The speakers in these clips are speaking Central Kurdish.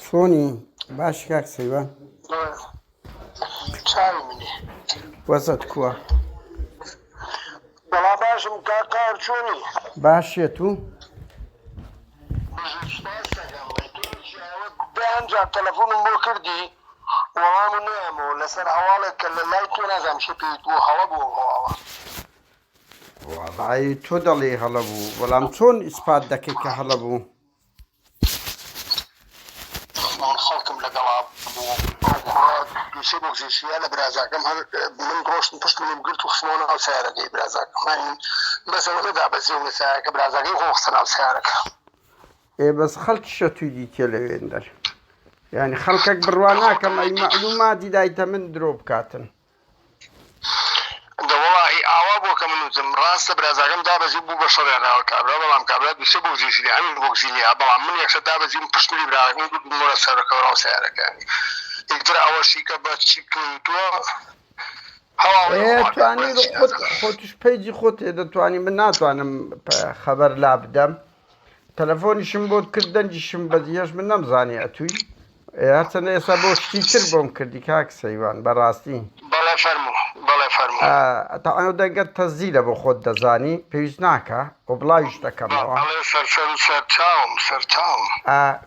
چۆنی باش کاک سەیوان وەزت کووە بەڵا باشم کاکار چۆنی باشێت و ئەمجا تەلەفۆنم بۆ کردی وەڵام و نامەوە لەسەر هەواڵێک کە لە لای تۆ نازانام شە پێیت بۆ هەڵە بۆ هەواڵە وەڵای تۆ دەڵێی هەڵە بوو بەڵام چۆن ئیسپات دەکەی کە هەڵە بوو من خەڵکم لەگەڵا بوو ئەو کوڕە دووسێ بۆ گزێشیە لە برازاکەم هەر من ڕۆشتم پشت منم گرت و خستمەوە ناو سیارەکەی برازاکەم هەنی بەسەوە نەدا بە زێو لە سایەکە برازاکەی خۆ خستە ناو سیارەکە ئێ بەس خەڵکی شەتوی دیتە لەوێندەر یعنی خەڵکەک بڕوا ناکەم ئەی معلوماتی دایتە من درۆ بکاتن دە وەڵاهی ئاوا بوە کە من وتم ڕاستە برازاکەم دابەزی و بو بە شەڕیان ناوەی کابرا بەڵام کابرا دوسێ بوکزیشی لێ ئەمیش بوکزی لێیا بەڵام من یەکسەر دابەزیم پشت ملی براکەم گوتمەوە سەرە کەوراو سەیارەکەیانی ئیتر ئەوەشی کە بە چی پێی وتوە هەواڵی ئێ خواردە توانی بۆیە چی خۆت نازانم خۆتش پەیجی خۆت هەیە دەتوانی من ناتوانم پە- خەبەر لابدەم تەلەفۆنیشم بۆت کرد دەنجیشم بەدی هێش من نەمزانی ئەتووی هەرچەندە ئێستا بۆ شتی تر بۆم کردی کاک سەیوان بەڕاستی بەڵێ فەرموو بەڵێ فەرموو تەعاو دەگەر تەزیرە بۆ خۆت دەزانی پێویست ناکە و بڵاویش دەکەمەوە بەڵێ سەرسەر و سەرچاوم سەرچاوم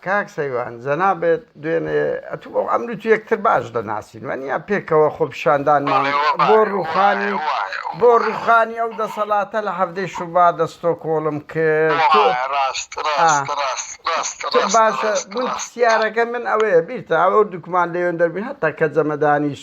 کاک سەیوان جەنابت دوێنێ ئەتوو و عەمرو تو یەکتر باش دەناسین وەنیا پێکەوە خۆپیشاندانمان بۆ رووخانی بۆ رووخانی ئەو دەسەلاتە لە حەڤدەی شوبات لە ستۆکۆڵم کرد تو باشە من پسیارەکە من ئەوەیە بیرتە ئەو دوکمان لەوێندەر بوین هەتا کەجەمەدانیش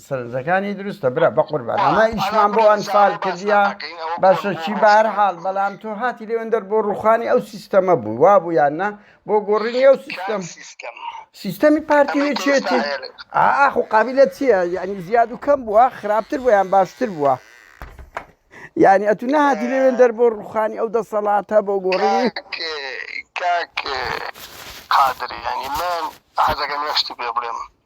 سەرنجەکانی دروستە برا بەقوربان ئەمە ئیشمان بۆ ئەنفال کردیا باشە چی بار حال بەڵام تۆ هاتی لێوەندەر بۆ ڕوخانی ئەو سیستەمە بوو وا بوو یان نا بۆ گۆڕینی ئەو سیستەم سیستەمی پارتی وێچێتی ئاخ و قابلە چییە یعنی زیاد و کەم بووە خراپتر بۆ یان باشتر بووە یعنی ئەتو نهاتی لێوێندەر بۆ ڕوخانی ئەو دەسەڵاتە بۆ گۆڕی قادر ینی من حەزەکەم یەشتی پێ بڵێم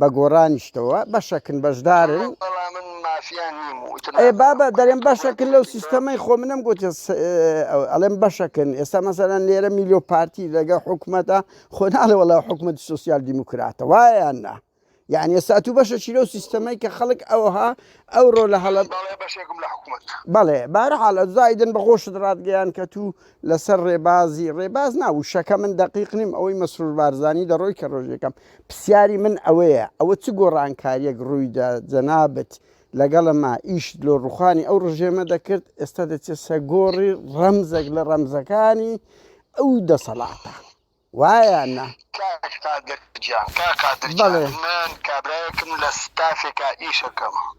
بە گۆڕانیشتەوە بەشەکن بەشدارن بابە دەرێن بەشەکن لەو سیستەمەی خۆ منم گوت ئەڵێم بەشەکن ئێستا مەسەرەن لێرە میلۆ پارتی لەگە حکوومەتە خۆناڵە وڵا حکوومەت سوسیال دیموکراتە وایان نا یعنی ئێستا تو بەشە چیرە و سیستەمەی کە خەڵک ئەوها ئەو ڕۆ لە هەڵە بەڵێ بارە حاڵە زایدن بە خۆشت ڕاتگەیان کە تو لەسەر ڕێبازی ڕێباز ناوشەکە من دقیق نیم ئەوەی مەسرور بارزانانی دەڕۆی کە ڕۆژەکەم پسیاری من ئەوەیە ئەوە چ گۆڕانکاریەک ڕویدا جەنابت لەگەڵما ئیشت لۆ ڕوخانی ئەو ڕژێمە دەکرد ئێستا دەچێسە گۆڕی ڕەمزەک لە ڕەمزەکانی ئەو دەسەڵاتە وایە نا؟ کاک قادر گیان کاک قادر گیان من کابرایەکم لە ستافێکا ئیشەکەم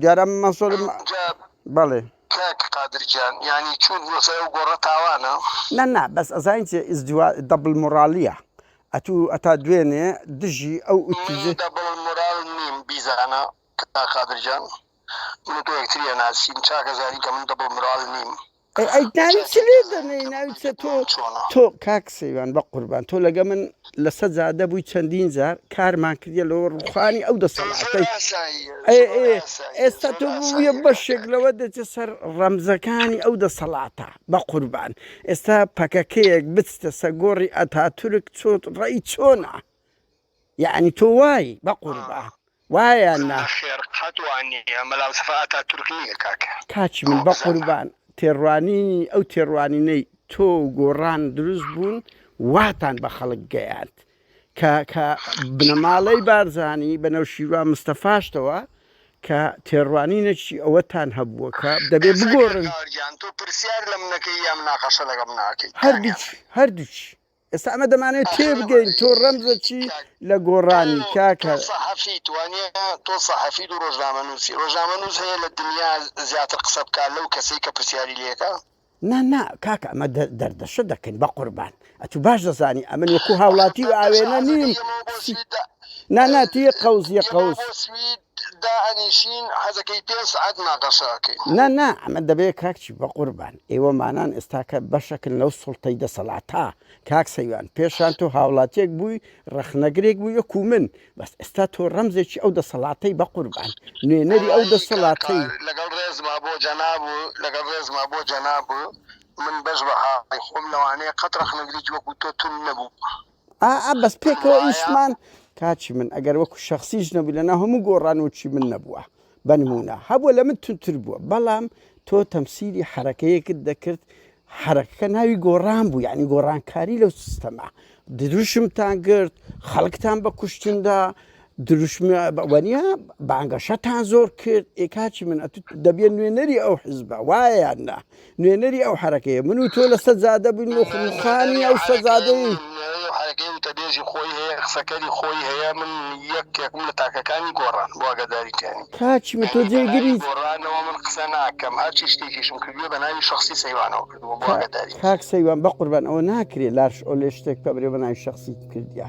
دیارە مەسۆل بەڵێ قادرجان ینی چون وەسەر و گۆڕە تاوانە نە نا بەس ئەزانین چێ ئیزدیوا دەبل مۆرالیە ئەتو ئەتا دوێنێ دژی ئەو ئوتیزە دەبڵ مۆرال نیم بیزانە قادرجان من تۆ یەکتریە ناسین چاکەزانی کە من دەبڵ مۆرال نیم ئەی ئەی ناوی چ لێ دەنێی ناوی چە تۆ تۆ کاک سەیوان بە قوربان تۆ لەگە من لەسەر جادە بووی چەندین جار کارمان کردە لەوە ڕوخانی ئەو دەسەڵاتەی ئێستا تۆ بووە بەشێک لەوە دەچێت سەر ڕەمزەکانی ئەو دەسەڵاتە بە قوربان ئێستا پەکەکەیەک بچتە سە گۆڕی ئەتا تورک چۆت ڕێی چۆنا یەعنی تۆ وای بەقوربان وایە نا. نەخێڕ قەت وا نییە مەلا مستەفا ئاتاتورک نییە کاکە. کاکی من بەقوربان تێڕوانینی ئەو تێڕوانینەی تۆ و گۆڕان دروست بوون واتان بە خەڵک گەیاند کە کە بنەماڵەی بارزانی بە نەوشیروان مستەفاشتەوە کە تێڕوانینێکی ئەوەتان هەبووە کە دەبێ بگۆڕن. کاکە گیان تۆ پرسیار لە منەکەی یا مناقەشە لەگەڵ من ئەکەی هەردووکی کاکە. هەردووکی ئێستا ئەمە دەمانەوێت تێبگەین تۆ ڕەمزە چی لە گۆڕانی کاکە سەحەفی توانیە تۆ سەحەفی و ڕۆژنامە نووسی ڕۆژنامە نووس هەیە لە دنیا زیاتر قسە بکە لەو کەسەی کە پرسیاری لەکە نا نا کاک ئەمە دەردەشە دەکەین بە قوربان ئەتو باش دەزانی ئەمن وەکو هاوڵاتی و ئاوێنە نیم نا نا توی قەوزیە قەوز دائەنیشین حەزەکەی پێنج سەعات مناقەشە ئەکەین. نا نا ئەمە دەبێت کاک چی بەقوربان ئێوە مانان ئێستاکە بەشەکن لەو سوڵتەی دەسەڵاتە کاک سەیوان پێشان تۆ هاوڵاتیەک بووی ڕەخنەگرێک بووی وەکو من بەس ئێستا تۆ ڕەمزێکی ئەو دەسەڵاتەی بەقوربان نوێنەری ئەو وەڵایی کاکە دەسەڵاتەی لەگەڵ ڕێزما بۆ جەناب و لەگەڵ ڕێزما بۆ جەناب و من بەش بەهاڕی خۆم لەوانەیە قەت ڕەخنەگرێکی وەکو تۆ توند نەبووبم. ئا ئا بەس پێکەوە ئیشمان کاچی من ئەگەر وەکو شخصیش نەبوو لەنا هەموو گۆڕان وچی من نەبووە بەنمونە هەبوو لە من تونتر بووە بەڵام تۆ تەمسیری حرەکەیەکت دەکرد حرەکەکە ناوی گۆڕان بوو یعنی گۆڕانکاری لەو سیستەما دروشمتان گرت خەڵکتان بە کوشتندا دروشمی وەنیا بانگەشەتان زۆر کرد ئێ کاچی من ئەتو دەبێت نوێنەری ئەو حزبە وایان نا نوێنەری ئەو حرەکەیە من و تۆ لە سەجادە بووین و خانی ئەو سەجادەی حرەکەی وتەبێژی خۆی هەیە قسەکەری خۆی هەیە من یەکێکم لە تاکەکانی گۆڕان واگەداریکانی کاچی من تۆ جێگری گۆڕانەوە من قسە ناکەم هەرچی شتێکیشم کردوە بە ناوی شخصی سەیوانەوە کردووە واگەداری کاک سەیوان بە قوربان ئەوە ناکرێت لاش ئەو لێ شتێک پەبرێ بە ناوی شخصی کردیا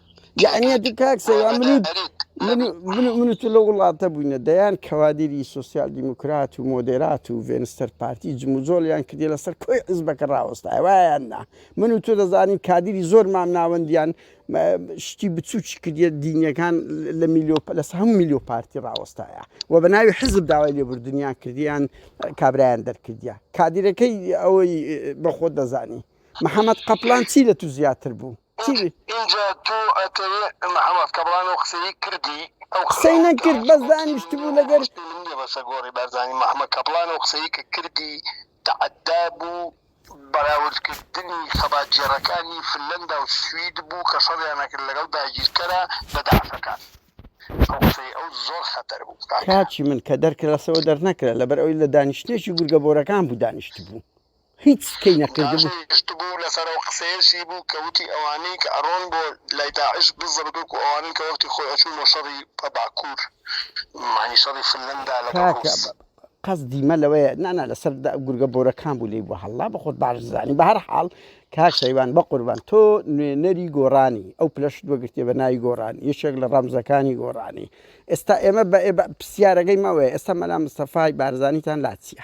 یعنی تو کاک سەیا منوت منوت لە وڵاتە بووینە دەیان کەوادری سوسیال دیموکرات و مۆدێرات و ڤێنستەر پارتی جموجۆلیان کردی لەسەر کۆی حزبەکە ڕاوەستای وایان نا من و تۆ دەزانین کادری زۆر مام ناوەندیان شتی بچوکی کردە دینیەکان لە میلیۆ لەس هەموو میلیۆ پارتی ڕاوەستایە و بە ناوی حزب داوای لێبوردنیان کردیان کابرایان دەرکردە کادیرەکەی ئەوەی بەخۆ دەزانی محەممەد قەپلان چی لە تو زیاتر بوو ئینجا تۆ ئەتەوێ محمد کەبڕان ئەو قسەی کردی ئەو قسەی نەکرد بەس دانیشت بوو لەگەر بەسە گۆڕی بەرزانی محمد کەپڵان ئەو قسەی کە کردی تەعدا بوو بەراوردکردنی خەبات گێڕەکانی فنلەندا و سوید بوو کە شەڕیانەکرد لەگەڵ داگیرکەرە بە دەعشەکان ئەو قسەی ئەو زۆر خەتەر بوو کاکە. کاکی من کە دەرکراسەوە دەرنەکرا لەبەر ئەوی لە دانیشتنێکی گورگە بۆرەکان بوو دانیشت بوو. هیچ کەی نەکردبوو. تاشەی گشت بوو لەسەر ئەو قسەیەشی بوو کە وتی ئەوانەی کە ئەڕۆن بۆ لای داعش بزڕت وەکو ئەوانەن کە وەختی خۆی ئەچوون بۆ شەڕی پە باکوور مەعنی شەڕی فنلەندا لەگەڵ کاکە ڕووس. قەسدی مە لەوەیە نا نا لەسەر دە گورگە بۆرەکان بوو لێی بوە هەڵلا بە خۆت باش زانی بە هەر حاڵ کاک شەیوان بە قوربان تۆ نوێنەری گۆڕانی ئەو پلەشت وەگرتێ بە ناوی گۆڕان یەکێک لە ڕەمزەکانی گۆڕانی ئێستا ئێمە بە ئێ بە پرسیارەکەی مەوەیە ئێستا مەلا مستەفای بارزانیتان لا چیە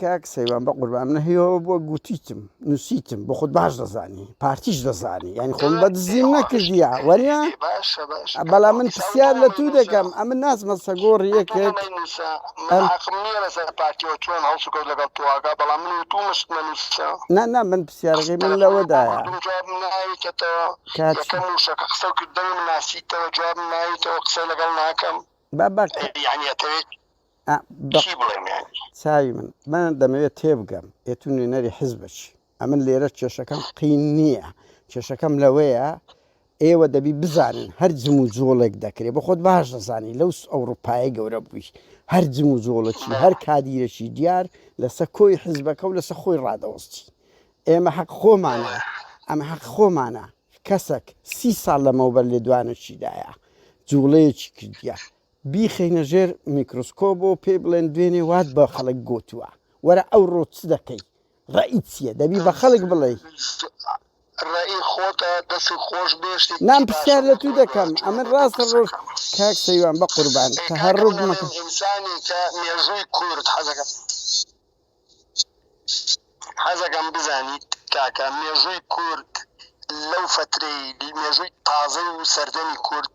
کاک سەیوان بەقوربان من هیوەوە بوە گوتیتم نوسیتم بۆ خۆت باش دەزانی پارتیش دەزانی یعنی خۆم بە دزیم نەکردیا وەرە بەڵام من پرسیار لە تو دەکەم ئەمن نازمە سەگۆڕ یەکێک نا نا من پرسیارەکەی من لەوەدایە قسە لەگەڵ ناکەم بابا چی بڵێم یانی. چاوی من من دەمەوێت تێبگەم ئێ تو نوێنەری حزبەچی ئەمن لێرە کێشەکەم قین نییە کێشەکەم لەوەیە ئێوە دەبی بزانن هەر جم و جۆڵێک دەکرێت بە خۆت باش دەزانی لەو ئەوروپای گەورە بووی هەر جم و جۆڵەکی هەر کادیرەکی دیار لەسەر کۆی حزبەکە و لەسەر خۆی ڕادەوەستی ئێمە حەق خۆمانە ئەمە حەق خۆمانە کەسەک سی ساڵ لەمەوبەر لێ دوانەشیدایە جوڵەیەکی کردە بیخەینە ژێر میکروسکۆب و پێی بڵێن دوێنێ وات بە خەڵک گوتووە وەرە ئەو ڕۆ چ دەکەی ڕێی چییە دەبی بە خەڵک بڵێ ڕێی خۆتە دەسی خۆش بێشتی نام پرسیار لە تو دەکەم ئەمن ڕاستە ڕۆژ کاک سەیوان بە قوربان کە هەر ڕۆژ مەکە ئینسانی کە مێژووی کورد حەزەکەم حەزەکەم بزانیت کاکە مێژووی کورد لەو فترەی مێژووی تازە و سەردەمی کورد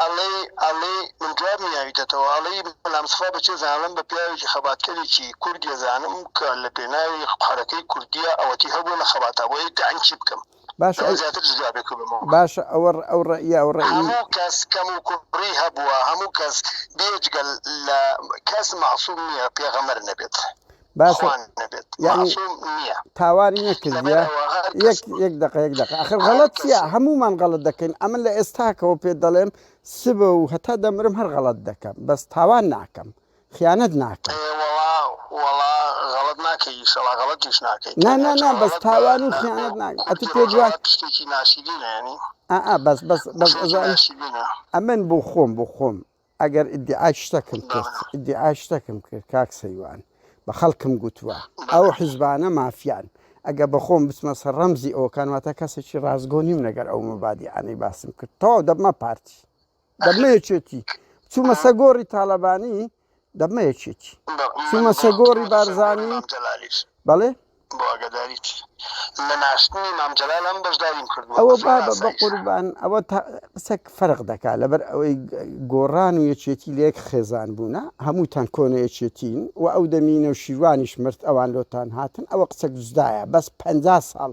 ئەڵێی ئەڵێی من جواب نیاویتەتەوە ئەڵێی مەلا مستەفا بەچێ زانم بە پیاوێکی خەباتکەرێکی کوردیە زانم کە لە پێناوی حەرەکەی کوردیە ئەوەتی هەبوو لە خەباتا بۆ ئەی تەعین چی بکەم باشە ئەو زیاتر جوابێک بمەوە باشە ئەوە ئەو ڕێیە ئەو ڕێی هەموو کەس کەم و کوڕی هەبووە هەموو کەس بێجگەل لە کەس مەعسوم نییە پێغەمەر نەبێت باشە یعنی تاواری نەکردە یەک یەک دقە یەک دقە ئەخر غەڵەت چیە هەمومان غەڵت دەکەین ئەمن لە ئێستاکەەوە پێ دەڵێم سبە و هەتا دەمرم هەر غەڵت دەکەم بەس تاوان ناکەم خیانەت ناکەم غەڵت ناکەی شڵا غەڵتیش ناکەی نا نا نا بەس تاوان و خیانەت ناکە ئەتو پێ دوای پشتێکی ناشیدینە ینی ئا بەس بەس بەس ئەمن بۆ خۆم بۆ خۆم ئەگەر ئیدیعای شتەکم کرد ئیدیعای شتەکم کرد کاک سەیوان بە خەڵکم گوتووە ئەو حیزبانە مافیان ئەگە بەخۆم بچمە سەر ڕەمزی ئەوکان واتە کەسێکی ڕاستگۆنیم لەگەر ئەو مەبادیانەی باسم کرد تەواو دەبمە پارتی دەبمە یەکێتی چوومە سەگۆڕی تاالبانی دەبمە یەکێتی چوومە سەگۆڕی بارزانانی بەڵێ بۆ ئاگاداریت لە ناشتنی مام جەلال ئەم بەشداریم کردووە ئەوە بابە بە بەفرانسایش قوربان ئەوە تا قسەک فەرق دەکا لەبەر ئەوەی گە- گۆڕان و یەکێتی لە یەک خێزان بوونە هەمووتان کۆنە یەکێتین و ئەو دەمی نەوشیروانیش مرد ئەوان لۆتان هاتن ئەوە قسەک دزدایە بەس پەنجا ساڵ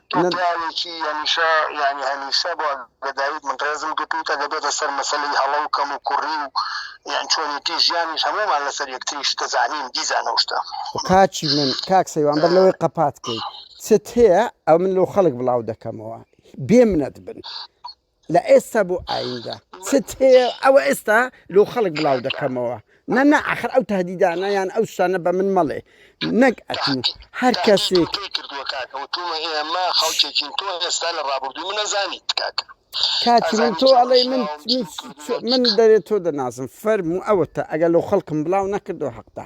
تۆ پیاوێکی هەمیشە یانی هەمیشە بۆ گەدایت من ڕێزم گرتوتە دەبێتە سەر مەسلەی هەڵە و کەم و کوڕی و یان چۆنێتی ژیانیش هەمومان لەسەر یەکتریش دەزانین دیزانە شتە کاچی من کاک سەیوان بەر لەوەی قەپات کەی چت هەیە ئەو من لەو خەڵک بڵاو دەکەمەوە بێ منەت بن لە ئێستا بۆ ئایندە چت هەیە ئەوە ئێستا لۆ خەڵک بڵاو دەکەمەوە نە نە ئەخر ئەو تهدیدانە یان ئەو شتانە بە من مەڵێ نەک ئەتوو هەر کەسێک کردووە کاکە وتوومە ئێمە خەڵکێکین تۆ ئێستا لە ڕابردووی منە زانیت کاکە کاتی من تۆ ئەڵێ من من دەرێت تۆ دەنازم فەرموو ئەوەتە ئەگەر لەو خەڵکم بڵاو نەکردو حەقدا